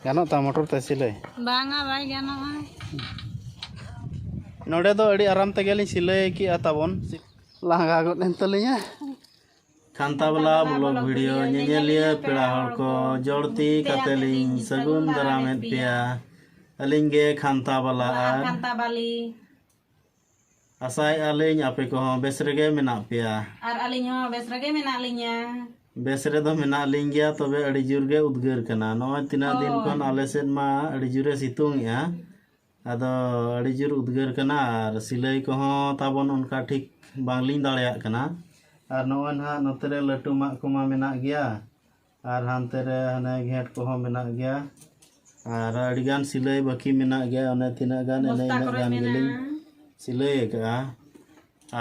ᱜᱟᱱᱚᱜ ᱛᱟᱢᱟ ᱢᱚᱴᱚᱨ ᱛᱮ ᱥᱤᱞᱟᱹᱭ ᱵᱟᱝᱟ ᱵᱟᱭ ᱜᱟᱱᱚᱜᱼᱟ ᱱᱚᱰᱮ ᱫᱚ ᱟᱹᱰᱤ ᱟᱨᱟᱢ ᱛᱮᱜᱮᱞᱤᱧ ᱥᱤᱞᱟᱹᱭ ᱠᱮᱜᱼᱟ ᱛᱟᱵᱚᱱ ᱞᱟᱸᱜᱟ ᱜᱚᱫ ᱮᱱ ᱛᱟᱹᱞᱤᱧᱟ ᱠᱷᱟᱱᱛᱟ ᱵᱟᱞᱟ ᱵᱞᱚᱜ ᱵᱷᱤᱰᱤᱭᱳ ᱧᱮᱧᱮᱞᱤᱭᱟᱹ ᱯᱮᱲᱟ ᱦᱚᱲ ᱠᱚ ᱡᱚᱲ ᱛᱤ ᱠᱟᱛᱮ ᱞᱤᱧ ᱥᱟᱹᱜᱩᱱ ᱫᱟᱨᱟᱢᱮᱫ ᱯᱮᱭᱟ ᱟᱹᱞᱤᱧ ᱜᱮ ᱠᱷᱟᱱᱛᱟ ᱵᱟᱞᱟ ᱟᱨ ᱠᱷᱟᱱᱛᱟ ᱵᱟᱞᱤ ᱟᱥᱟᱭᱮᱫᱼᱟ ᱞᱤᱧ ᱟᱯᱮ ᱠᱚᱦᱚᱸ ᱵᱮᱥ ᱨᱮᱜᱮ ᱢᱮᱱᱟᱜ ᱯᱮᱭᱟ ᱟᱨ ᱟᱹᱞᱤᱧ ᱦᱚᱸ ᱵᱮᱥ ᱨᱮᱜᱮ ᱢᱮᱱᱟᱜ ᱞᱤᱧᱟ ᱵᱮᱥ ᱨᱮᱫᱚ ᱢᱮᱱᱟᱜ ᱞᱤᱧ ᱜᱮᱭᱟ ᱛᱚᱵᱮ ᱟᱹᱰᱤ ᱡᱳᱨ ᱜᱮ ᱩᱫᱽᱜᱟᱹᱨ ᱠᱟᱱᱟ ᱱᱚᱜᱼᱚᱭ ᱛᱤᱱᱟᱹᱜ ᱫᱤᱱ ᱠᱷᱚᱱ ᱟᱞᱮ ᱥᱮᱫ ᱢᱟ ᱟᱹᱰᱤ ᱡᱳᱨᱮ ᱥᱤᱛᱩᱝ ᱮᱜᱼᱟ ᱟᱫᱚ ᱟᱹᱰᱤ ᱡᱳᱨ ᱩᱫᱽᱜᱟᱹᱨ ᱠᱟᱱᱟ ᱟᱨ ᱥᱤᱞᱟᱹᱭ ᱠᱚᱦᱚᱸ ᱛᱟᱵᱚᱱ ᱚᱱᱠᱟ ᱴᱷᱤᱠ ᱵᱟᱝᱞᱤᱧ ᱫᱟᱲᱮᱭᱟᱜ ᱠᱟᱱᱟ ᱟᱨ ᱱᱚᱜᱼᱚᱭ ᱱᱟᱦᱟᱜ ᱱᱚᱛᱮᱨᱮ ᱞᱟᱹᱴᱩ ᱢᱟᱜ ᱠᱚᱢᱟ ᱢᱮᱱᱟᱜ ᱜᱮᱭᱟ ᱟᱨ ᱦᱟᱱᱛᱮ ᱨᱮ ᱦᱟᱱᱮ ᱜᱷᱮᱸᱴ ᱠᱚᱦᱚᱸ ᱢᱮᱱᱟᱜ ᱜᱮᱭᱟ ᱟᱨ ᱟᱹᱰᱤ ᱜᱟᱱ ᱥᱤᱞᱟᱹᱭ ᱵᱟᱹᱠᱤ ᱢᱮᱱᱟᱜ ᱜᱮᱭᱟ ᱚᱱᱮ ᱛᱤᱱᱟᱹᱜ ᱜᱟᱱ ᱮᱱᱮ ᱵᱚᱥᱛᱟ ᱤᱱᱟᱹᱜ ᱠᱚᱨᱮ ᱜᱟᱱ ᱜᱮᱞᱤᱧ ᱢᱮᱱᱟᱜᱼᱟ ᱥᱤᱞᱟᱹᱭ ᱟᱠᱟᱜᱼᱟ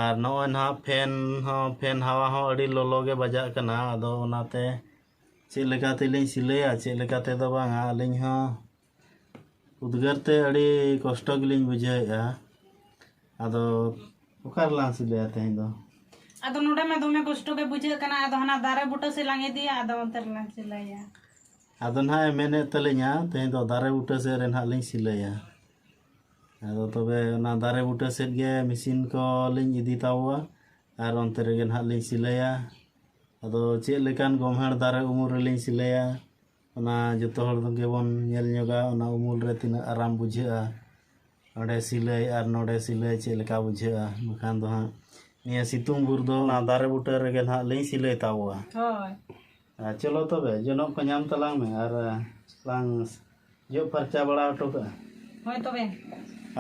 ᱟᱨ ᱱᱚᱜᱼᱚᱭ ᱱᱟᱦᱟᱜ ᱯᱷᱮᱱ ᱦᱚᱸ ᱯᱷᱮᱱ ᱦᱟᱣᱟ ᱦᱚᱸ ᱟᱹᱰᱤ ᱞᱚᱞᱚ ᱜᱮ ᱵᱟᱡᱟᱜ ᱠᱟᱱᱟ ᱟᱫᱚ ᱚᱱᱟᱛᱮ ᱪᱮᱫ ᱞᱮᱠᱟ ᱛᱮᱞᱤᱧ ᱥᱤᱞᱟᱹᱭᱟ ᱪᱮᱫ ᱞᱮᱠᱟ ᱛᱮᱫᱚ ᱵᱟᱝᱟ ᱟᱹᱞᱤᱧ ᱦᱚᱸ ᱩᱫᱽᱜᱟᱹᱨ ᱛᱮ ᱟᱹᱰᱤ ᱠᱚᱥᱴᱚ ᱜᱮᱞᱤᱧ ᱵᱩᱡᱷᱟᱹᱣᱮᱫᱼᱟ ᱟᱫᱚ ᱚᱠᱟ ᱨᱮᱞᱟᱝ ᱥᱤᱞᱟᱹᱭᱟ ᱛᱮᱦᱮᱧ ᱫᱚ ᱟᱫᱚ ᱱᱚᱰᱮ ᱢᱟ ᱫᱚᱢᱮ ᱠᱚᱥᱴᱚ ᱜᱮ ᱵᱩᱡᱷᱟᱹᱜ ᱠᱟᱱᱟ ᱟᱫᱚ ᱦᱟᱱᱟ ᱫᱟᱨᱮ ᱵᱩᱴᱟᱹ ᱥᱮᱫ ᱞᱟᱝ ᱤᱫᱤᱭᱟ ᱟᱫᱚ ᱚᱱᱛᱮ ᱨᱮᱞᱟᱝ ᱥᱤᱞᱟᱹᱭᱟ ᱟᱫᱚ ᱱᱟᱦᱟᱜ ᱮ ᱢᱮᱱᱮᱫ ᱛᱟᱹᱞᱤᱧᱟ ᱛᱮᱦᱮᱧ ᱫᱚ ᱫᱟᱨᱮ ᱵᱩᱴᱟᱹ ᱥᱮᱫ ᱨᱮ ᱱᱟᱦᱟᱜ ᱞᱤᱧ ᱥᱤᱞᱟᱹᱭᱟ ᱟᱫᱚ ᱛᱚᱵᱮ ᱚᱱᱟ ᱫᱟᱨᱮ ᱵᱩᱴᱟᱹ ᱥᱮᱫ ᱜᱮ ᱢᱮᱥᱤᱱ ᱠᱚᱞᱤᱧ ᱤᱫᱤ ᱛᱟᱵᱚᱣᱟ ᱟᱨ ᱚᱱᱛᱮ ᱨᱮᱜᱮ ᱱᱟᱦᱟᱜ ᱞᱤᱧ ᱥᱤᱞᱟᱹᱭᱟ ᱟᱫᱚ ᱪᱮᱫ ᱞᱮᱠᱟᱱ ᱜᱚᱢᱦᱟᱲ ᱫᱟᱨᱮ ᱩᱢᱩᱞ ᱨᱮᱞᱤᱧ ᱥᱤᱞᱟᱹᱭᱟ ᱚᱱᱟ ᱡᱚᱛᱚ ᱦᱚᱲ ᱜᱮᱵᱚᱱ ᱧᱮᱞ ᱧᱚᱜᱟ ᱚᱱᱟ ᱩᱢᱩᱞ ᱨᱮ ᱛᱤᱱᱟᱹᱜ ᱟᱨᱟᱢ ᱵᱩᱡᱷᱟᱹᱜᱼᱟ ᱱᱚᱰᱮ ᱥᱤᱞᱟᱹᱭ ᱟᱨ ᱱᱚᱰᱮ ᱥᱤᱞᱟᱹᱭ ᱪᱮᱫ ᱞᱮᱠᱟ ᱵᱩᱡᱷᱟᱹᱜᱼᱟ ᱵᱟᱠᱷᱟᱱ ᱫᱚ ᱦᱟᱸᱜ ᱱᱤᱭᱟᱹ ᱥᱤᱛᱩᱝ ᱵᱷᱳᱨ ᱫᱚ ᱚᱱᱟ ᱫᱟᱨᱮ ᱵᱩᱴᱟᱹ ᱨᱮᱜᱮ ᱱᱟᱦᱟᱜ ᱞᱤᱧ ᱥᱤᱞᱟᱹᱭ ᱛᱟᱵᱚᱣᱟ ᱦᱳᱭ ᱟᱨ ᱪᱚᱞᱚ ᱛᱚᱵᱮ ᱡᱚᱱᱚᱜ ᱠᱚ ᱧᱟᱢ ᱛᱟᱞᱟᱝ ᱢᱮ ᱟᱨ ᱞᱟᱝ ᱡᱚᱜ ᱯᱷᱟᱨᱪᱟ ᱵᱟᱲᱟ ᱦᱚᱴᱚ ᱠᱟᱜᱼᱟ ᱦᱳᱭ ᱛᱚᱵᱮ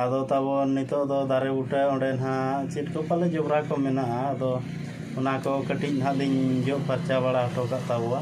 ᱟᱫᱚ ᱛᱟᱵᱚᱱ ᱱᱤᱛᱚᱜ ᱫᱚ ᱫᱟᱨᱮ ᱵᱩᱴᱟᱹ ᱚᱸᱰᱮ ᱱᱟᱦᱟᱜ ᱪᱮᱫ ᱠᱚ ᱯᱟᱞᱮ ᱡᱚᱵᱽᱨᱟ ᱠᱚ ᱢᱮᱱᱟᱜᱼᱟ ᱟᱫᱚ ᱚᱱᱟ ᱠᱚ ᱠᱟᱹᱴᱤᱡ ᱱᱟᱦᱟᱜ ᱞᱤᱧ ᱡᱚᱜ ᱯᱷᱟᱨᱪᱟ ᱵᱟᱲᱟ ᱦᱚᱴᱚ ᱠᱟᱜ ᱛᱟᱵᱚᱣᱟ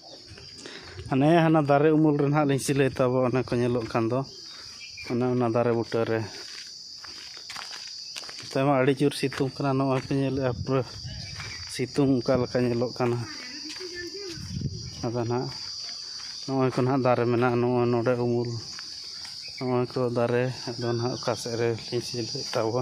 ᱦᱟᱱᱮ ᱦᱟᱱᱟ ᱫᱟᱨᱮ ᱩᱢᱩᱞ ᱨᱮ ᱱᱟᱦᱟᱜ ᱞᱤᱧ ᱥᱤᱞᱟᱹᱭ ᱛᱟᱵᱚ ᱚᱱᱟ ᱠᱚ ᱧᱮᱞᱚᱜ ᱠᱟᱱ ᱫᱚ ᱚᱱᱮ ᱚᱱᱟ ᱫᱟᱨᱮ ᱵᱩᱴᱟᱹ ᱨᱮ ᱱᱚᱛᱮ ᱢᱟ ᱟᱹᱰᱤ ᱡᱳᱨ ᱥᱤᱛᱩᱝ ᱠᱟᱱᱟ ᱱᱚᱜᱼᱚᱭ ᱯᱮ ᱧᱮᱞᱮᱫᱼᱟ ᱯᱩᱨᱟᱹ ᱥᱤᱛᱩᱝ ᱚᱠᱟ ᱞᱮᱠᱟ ᱧᱮᱞᱚᱜ ᱠᱟᱱᱟ ᱟᱫᱚ ᱱᱟᱦᱟᱜ ᱱᱚᱜᱼᱚᱭ ᱠᱚ ᱱᱟᱦᱟᱜ ᱫᱟᱨᱮ ᱢᱮᱱᱟᱜᱼᱟ ᱱᱚᱜᱼᱚᱭ ᱱᱚᱰᱮ ᱩᱢᱩᱞ ᱱᱚᱜᱼᱚᱭ ᱠᱚ ᱫᱟᱨᱮ ᱟᱫᱚ ᱱᱟᱦᱟᱜ ᱚᱠᱟ ᱥᱮᱫ ᱨᱮᱞᱤᱧ ᱥᱤᱞᱟᱹᱭ ᱛᱟᱵᱚ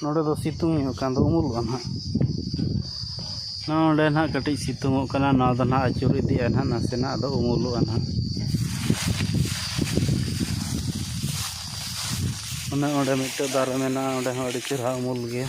ᱱᱚᱸᱰᱮ ᱫᱚ ᱥᱤᱛᱩᱝ ᱧᱚᱜ ᱠᱟᱱ ᱫᱚ ᱩᱢᱩᱞᱚᱜᱼᱟ ᱱᱟᱦᱟᱜ ᱱᱚᱸᱰᱮ ᱱᱟᱦᱟᱜ ᱠᱟᱹᱴᱤᱡ ᱥᱤᱛᱩᱝᱚᱜ ᱠᱟᱱᱟ ᱱᱚᱣᱟ ᱫᱚ ᱱᱟᱦᱟᱜ ᱟᱹᱪᱩᱨ ᱤᱫᱤᱜᱼᱟ ᱱᱟᱦᱟᱜ ᱱᱟᱥᱮᱱᱟᱜ ᱟᱫᱚ ᱩᱢᱩᱞᱚᱜᱼᱟ ᱱᱟᱦᱟᱜ ᱚᱱᱮ ᱚᱸᱰᱮ ᱢᱤᱫᱴᱮᱡ ᱫᱟᱨᱮ ᱢᱮᱱᱟᱜᱼᱟ ᱚᱸᱰᱮ ᱦᱚᱸ ᱟᱹᱰᱤ ᱪᱮᱨᱦᱟ ᱩᱢᱩᱞ ᱜᱮᱭᱟ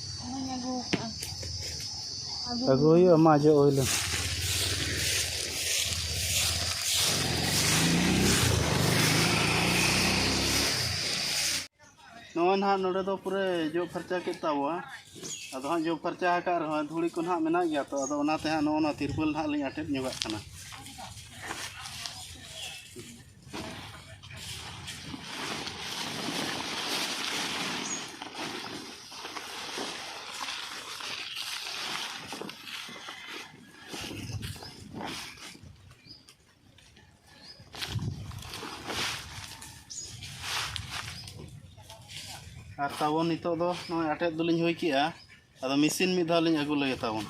ᱟᱹᱜᱩ ᱦᱩᱭᱩᱜᱼᱟ ᱢᱟ ᱡᱚᱜ ᱦᱩᱭ ᱞᱮᱱ ᱱᱚᱜᱼᱚᱭ ᱱᱟᱦᱟᱜ ᱱᱚᱰᱮ ᱫᱚ ᱯᱩᱨᱟᱹ ᱡᱚᱜ ᱯᱷᱟᱨᱪᱟ ᱠᱮᱫ ᱛᱟᱵᱚᱣᱟ ᱟᱫᱚ ᱦᱟᱸᱜ ᱡᱚᱜ ᱯᱷᱟᱨᱪᱟ ᱟᱠᱟᱫ ᱨᱮᱦᱚᱸ ᱫᱷᱩᱲᱤ ᱠᱚ ᱱᱟᱦᱟᱜ ᱢᱮᱱᱟᱜ ᱜᱮᱭᱟ ᱛᱚ ᱟᱫᱚ ᱚᱱᱟᱛᱮ ᱦᱟᱸᱜ ᱱᱚᱜᱼᱚ ᱱᱚᱣᱟ ᱛᱤᱨᱯᱚᱞ ᱱᱟᱦᱟᱜ ᱞᱤᱧ ᱟᱴᱮᱫ ᱧᱚᱜᱟᱜ ᱠᱟᱱᱟ ᱟᱨ ᱛᱟᱵᱚᱱ ᱱᱤᱛᱚᱜ ᱫᱚ ᱱᱚᱜᱼᱚᱭ ᱟᱴᱮᱫ ᱫᱚᱞᱤᱧ ᱦᱩᱭ ᱠᱮᱜᱼᱟ ᱟᱫᱚ ᱢᱮᱥᱤᱱ ᱢᱤᱫ ᱫᱷᱟᱣ ᱞᱤᱧ ᱟᱹᱜᱩ ᱞᱮᱜᱮ ᱛᱟᱵᱚᱱ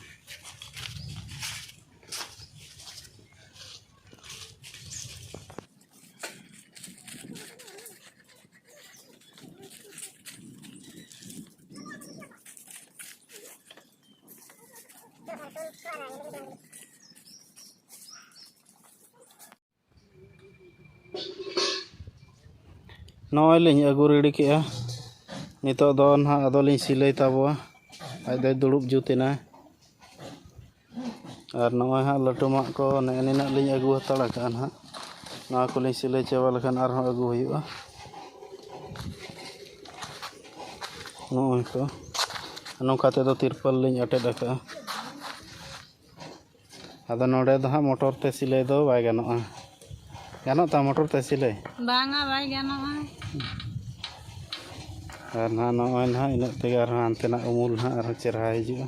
ᱱᱚᱜᱼᱚᱭ ᱞᱤᱧ ᱟᱹᱜᱩ ᱨᱮᱰᱤ ᱠᱮᱜᱼᱟ ᱱᱤᱛᱚᱜ ᱫᱚ ᱱᱟᱦᱟᱜ ᱟᱫᱚ ᱞᱤᱧ ᱥᱤᱞᱟᱹᱭ ᱛᱟᱵᱚᱣᱟ ᱟᱡ ᱫᱚᱭ ᱫᱩᱲᱩᱵ ᱡᱩᱛ ᱮᱱᱟ ᱟᱨ ᱱᱚᱜᱼᱚᱸᱭ ᱦᱟᱸᱜ ᱞᱟᱹᱴᱩᱢᱟᱜ ᱠᱚ ᱱᱮᱜᱼᱮ ᱱᱤᱱᱟᱹᱜ ᱞᱤᱧ ᱟᱹᱜᱩ ᱦᱟᱛᱟᱲ ᱠᱟᱜᱼᱟ ᱦᱟᱸᱜ ᱱᱚᱣᱟ ᱠᱚᱞᱤᱧ ᱥᱤᱞᱟᱹᱭ ᱪᱟᱵᱟ ᱞᱮᱠᱷᱟᱱ ᱟᱨᱦᱚᱸ ᱟᱹᱜᱩ ᱦᱩᱭᱩᱜᱼᱟ ᱱᱚᱜᱼᱚᱸᱭ ᱠᱚ ᱱᱚᱝᱠᱟ ᱛᱮᱫᱚ ᱛᱤᱨᱯᱚᱞ ᱞᱤᱧ ᱟᱴᱮᱫ ᱠᱟᱜᱼᱟ ᱟᱫᱚ ᱱᱚᱰᱮ ᱫᱚ ᱦᱟᱸᱜ ᱢᱚᱴᱚᱨ ᱛᱮ ᱥᱤᱞᱟᱹᱭ ᱫᱚ ᱵᱟᱭ ᱜᱟᱱᱚᱜᱼᱟ ᱜᱟᱱᱚᱜ ᱛᱟᱢ ᱢᱚᱴᱚᱨ ᱛᱮ ᱥᱤᱞᱟᱹᱭ ᱵᱟᱝᱟ ᱵᱟᱭ ᱜᱟᱱᱚᱜᱼᱟ ᱟᱨ ᱱᱟᱦᱟᱜ ᱱᱚᱜᱼᱚᱸᱭ ᱱᱟᱦᱟᱜ ᱤᱱᱟᱹᱜ ᱛᱮᱜᱮ ᱟᱨᱦᱚᱸ ᱦᱟᱱᱛᱮᱱᱟᱜ ᱩᱢᱩᱞ ᱱᱟᱦᱟᱜ ᱟᱨᱦᱚᱸ ᱪᱮᱨᱦᱟ ᱦᱤᱡᱩᱜᱼᱟ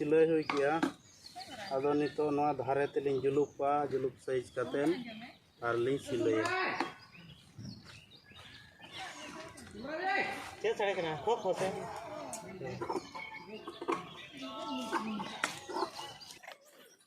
ᱥᱤᱞᱟᱹᱭ ᱦᱩᱭ ᱠᱮᱜᱼᱟ ᱟᱫᱚ ᱱᱤᱛᱚᱜ ᱱᱚᱣᱟ ᱫᱷᱟᱨᱮ ᱛᱮᱞᱤᱧ ᱡᱩᱞᱩᱯᱟ ᱡᱩᱞᱩᱯ ᱥᱟᱭᱤᱡᱽ ᱠᱟᱛᱮᱫ ᱟᱨᱞᱤᱧ ᱥᱤᱞᱟᱹᱭᱟ ᱪᱮᱫ ᱥᱟᱲᱮ ᱠᱟᱱᱟ ᱠᱚ ᱠᱷᱚᱥᱮ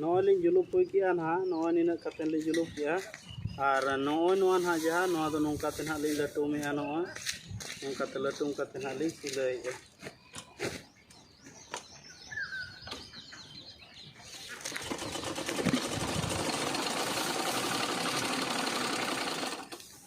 ᱱᱚᱜᱼᱚᱭ ᱞᱤᱧ ᱡᱩᱞᱩᱯ ᱦᱩᱭ ᱠᱮᱜᱼᱟ ᱱᱟᱦᱟᱜ ᱱᱚᱜᱼᱚᱭ ᱱᱤᱱᱟᱹᱜ ᱠᱟᱛᱮᱫ ᱞᱤᱧ ᱡᱩᱞᱩᱯ ᱠᱮᱜᱼᱟ ᱟᱨ ᱱᱚᱜᱼᱚᱭ ᱱᱚᱣᱟ ᱱᱟᱦᱟᱜ ᱡᱟᱦᱟᱸ ᱱᱚᱣᱟ ᱫᱚ ᱱᱚᱝᱠᱟ ᱛᱮ ᱱᱟᱦᱟᱜ ᱞᱤᱧ ᱞᱟᱹᱴᱩᱢᱮᱜᱼᱟ ᱱᱚᱜᱼᱚᱭ ᱱᱚᱝᱠᱟ ᱛᱮ ᱞᱟᱹᱴᱩᱢ ᱠᱟᱛᱮᱫ ᱱᱟᱦᱟᱜ ᱞᱤᱧ ᱥᱤᱞᱟᱹᱭᱮᱜᱼᱟ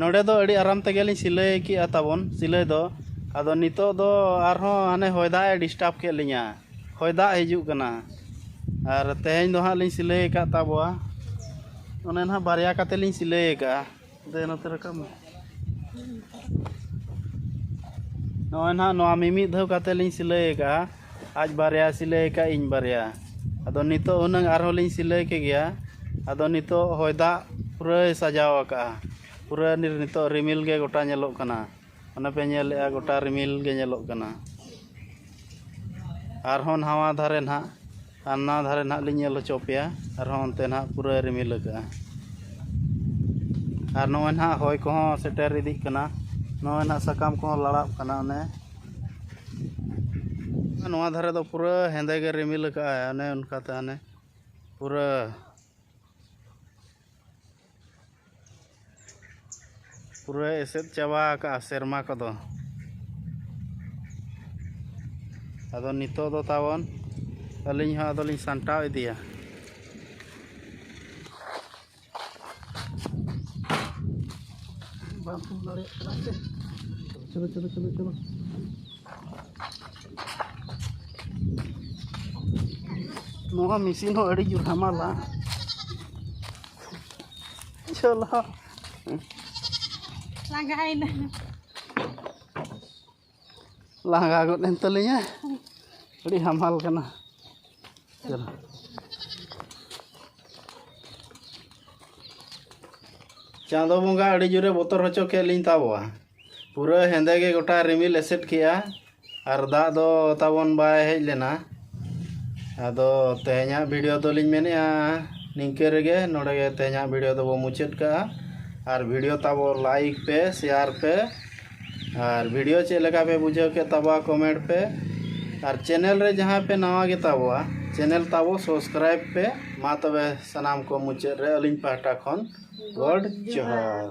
ᱱᱚᱸᱰᱮ ᱫᱚ ᱟᱹᱰᱤ ᱟᱨᱟᱢ ᱛᱮᱜᱮ ᱞᱤᱧ ᱥᱤᱞᱟᱹᱭ ᱠᱮᱜᱼᱟ ᱛᱟᱵᱚᱱ ᱥᱤᱞᱟᱹᱭ ᱫᱚ ᱟᱫᱚ ᱱᱤᱛᱚᱜ ᱫᱚ ᱟᱨᱦᱚᱸ ᱦᱟᱱᱮ ᱦᱚᱭ ᱫᱟᱜ ᱮ ᱰᱤᱥᱴᱟᱵᱽ ᱠᱮᱫ ᱞᱤᱧᱟ ᱦᱚᱭ ᱫᱟᱜ ᱦᱤᱡᱩᱜ ᱠᱟᱱᱟ ᱟᱨ ᱛᱮᱦᱮᱧ ᱫᱚ ᱦᱟᱸᱜ ᱞᱤᱧ ᱥᱤᱞᱟᱹᱭ ᱟᱠᱟᱫ ᱛᱟᱵᱚᱣᱟ ᱚᱱᱮ ᱱᱟᱦᱟᱸᱜ ᱵᱟᱨᱭᱟ ᱠᱟᱛᱮᱫ ᱞᱤᱧ ᱥᱤᱞᱟᱹᱭ ᱟᱠᱟᱫᱼᱟ ᱫᱮ ᱱᱚᱛᱮ ᱨᱟᱠᱟᱵ ᱢᱮ ᱱᱚᱜᱼᱚᱭ ᱱᱟᱦᱟᱜ ᱱᱚᱣᱟ ᱢᱤᱢᱤᱫ ᱫᱷᱟᱣ ᱠᱟᱛᱮ ᱞᱤᱧ ᱥᱤᱞᱟᱹᱭ ᱟᱠᱟᱜᱼᱟ ᱟᱡ ᱵᱟᱨᱭᱟ ᱥᱤᱞᱟᱹᱭ ᱟᱠᱟᱫ ᱤᱧ ᱵᱟᱨᱭᱟ ᱟᱫᱚ ᱱᱤᱛᱚᱜ ᱦᱩᱱᱟᱹᱝ ᱟᱨᱦᱚᱸ ᱞᱤᱧ ᱥᱤᱞᱟᱹᱭ ᱠᱮ ᱜᱮᱭᱟ ᱟᱫᱚ ᱱᱤᱛᱚᱜ ᱦᱚᱭ ᱫᱟᱜ ᱯᱩᱨᱟᱹᱭ ᱥᱟᱡᱟᱣ ᱟᱠᱟᱫᱼᱟ ᱯᱩᱨᱟᱹ ᱱᱤᱛᱚᱜ ᱨᱤᱢᱤᱞ ᱜᱮ ᱜᱚᱴᱟ ᱧᱮᱞᱚᱜ ᱠᱟᱱᱟ ᱚᱱᱮ ᱯᱮ ᱧᱮᱞᱮᱫᱼᱟ ᱜᱚᱴᱟ ᱨᱤᱢᱤᱞ ᱜᱮ ᱧᱮᱞᱚᱜ ᱠᱟᱱᱟ ᱟᱨᱦᱚᱸ ᱱᱟᱣᱟ ᱫᱷᱟᱨᱮ ᱱᱟᱦᱟᱜ ᱦᱟᱱᱟ ᱫᱷᱟᱨᱮ ᱱᱟᱦᱟᱜ ᱞᱤᱧ ᱧᱮᱞ ᱦᱚᱪᱚ ᱟᱯᱮᱭᱟ ᱟᱨᱦᱚᱸ ᱚᱱᱛᱮ ᱱᱟᱦᱟᱜ ᱯᱩᱨᱟᱹ ᱨᱤᱢᱤᱞ ᱟᱠᱟᱫᱼᱟ ᱟᱨ ᱱᱚᱜᱼᱚᱭ ᱱᱟᱦᱟᱜ ᱦᱚᱭ ᱠᱚᱦᱚᱸ ᱥᱮᱴᱮᱨ ᱤᱫᱤᱜ ᱠᱟᱱᱟ ᱱᱚᱜᱼᱚᱭ ᱱᱟᱦᱟᱜ ᱥᱟᱠᱟᱢ ᱠᱚᱦᱚᱸ ᱞᱟᱲᱟᱜ ᱠᱟᱱᱟ ᱚᱱᱮ ᱱᱚᱣᱟ ᱫᱷᱟᱨᱮ ᱫᱚ ᱯᱩᱨᱟᱹ ᱦᱮᱸᱫᱮ ᱜᱮ ᱨᱤᱢᱤᱞ ᱟᱠᱟᱫᱼᱟᱭ ᱚᱱᱮ ᱚᱱᱠᱟᱛᱮ ᱦᱟᱱᱮ ᱯᱩᱨᱟᱹ ᱯᱩᱨᱟᱹ ᱮᱥᱮᱫ ᱪᱟᱵᱟ ᱟᱠᱟᱜᱼᱟ ᱥᱮᱨᱢᱟ ᱠᱚᱫᱚ ᱟᱫᱚ ᱱᱤᱛᱚᱜ ᱫᱚ ᱛᱟᱵᱚᱱ ᱟᱹᱞᱤᱧ ᱦᱚᱸ ᱟᱫᱚᱞᱤᱧ ᱥᱟᱢᱴᱟᱣ ᱤᱫᱤᱭᱟ ᱵᱟᱝ ᱯᱷᱳᱱ ᱫᱟᱲᱮᱭᱟᱜ ᱠᱟᱱᱟ ᱥᱮ ᱪᱚᱞᱚ ᱪᱚᱞᱚ ᱪᱚᱞᱚ ᱪᱚᱞᱚ ᱱᱚᱣᱟ ᱢᱮᱥᱤᱱ ᱦᱚᱸ ᱟᱹᱰᱤ ᱡᱳᱨ ᱦᱟᱢᱟᱞᱟ ᱪᱚᱞᱚ ᱞᱟᱸᱜᱟᱭᱮᱱᱟ ᱞᱟᱸᱜᱟ ᱜᱚᱫ ᱮᱱ ᱛᱟᱹᱞᱤᱧᱟ ᱟᱹᱰᱤ ᱦᱟᱢᱟᱞ ᱠᱟᱱᱟ ᱪᱚᱞᱚ ᱪᱟᱸᱫᱚ ᱵᱚᱸᱜᱟ ᱟᱹᱰᱤ ᱡᱳᱨᱮ ᱵᱚᱛᱚᱨ ᱦᱚᱪᱚ ᱠᱮᱫ ᱞᱤᱧ ᱛᱟᱵᱚᱣᱟ ᱯᱩᱨᱟᱹ ᱦᱮᱸᱫᱮ ᱜᱮ ᱜᱚᱴᱟ ᱨᱤᱢᱤᱞ ᱮᱥᱮᱫ ᱠᱮᱜᱼᱟ ᱟᱨ ᱫᱟᱜ ᱫᱚ ᱛᱟᱵᱚᱱ ᱵᱟᱭ ᱦᱮᱡ ᱞᱮᱱᱟ ᱟᱫᱚ ᱛᱮᱦᱮᱧᱟᱜ ᱵᱷᱤᱰᱤᱭᱳ ᱫᱚᱞᱤᱧ ᱢᱮᱱᱮᱫᱼᱟ ᱱᱤᱝᱠᱟᱹ ᱨᱮᱜᱮ ᱱᱚᱰᱮ ᱜᱮ ᱛᱮᱦᱮᱧᱟᱜ ᱵᱷᱤᱰᱤᱭᱳ ᱫᱚᱵᱚ ᱢᱩᱪᱟᱹᱫ ᱠᱟᱜᱼᱟ ᱟᱨ ᱵᱷᱤᱰᱤᱭᱳ ᱛᱟᱵᱚ ᱞᱟᱭᱤᱠ ᱯᱮ ᱥᱮᱭᱟᱨ ᱯᱮ ᱟᱨ ᱵᱷᱤᱰᱤᱭᱳ ᱪᱮᱫ ᱞᱮᱠᱟ ᱯᱮ ᱵᱩᱡᱷᱟᱹᱣ ᱠᱮᱫ ᱛᱟᱵᱚᱣᱟ ᱠᱚᱢᱮᱱᱴ ᱯᱮ ᱟᱨ ᱪᱮᱱᱮᱞ ᱨᱮ ᱡᱟᱦᱟᱸᱭ ᱯᱮ ᱱᱟᱣᱟ ᱜᱮᱛᱟᱵᱚᱣᱟ ᱪᱮᱱᱮᱞ ᱛᱟᱵᱚ ᱥᱚᱵᱥᱠᱨᱟᱭᱤᱵᱽ ᱯᱮ ᱢᱟ ᱛᱚᱵᱮ ᱥᱟᱱᱟᱢ ᱠᱚ ᱢᱩᱪᱟᱹᱫ ᱨᱮ ᱟᱹᱞᱤᱧ ᱯᱟᱦᱴᱟ ᱠᱷᱚᱱ ᱜᱚᱰ ᱡᱚᱦᱟᱨ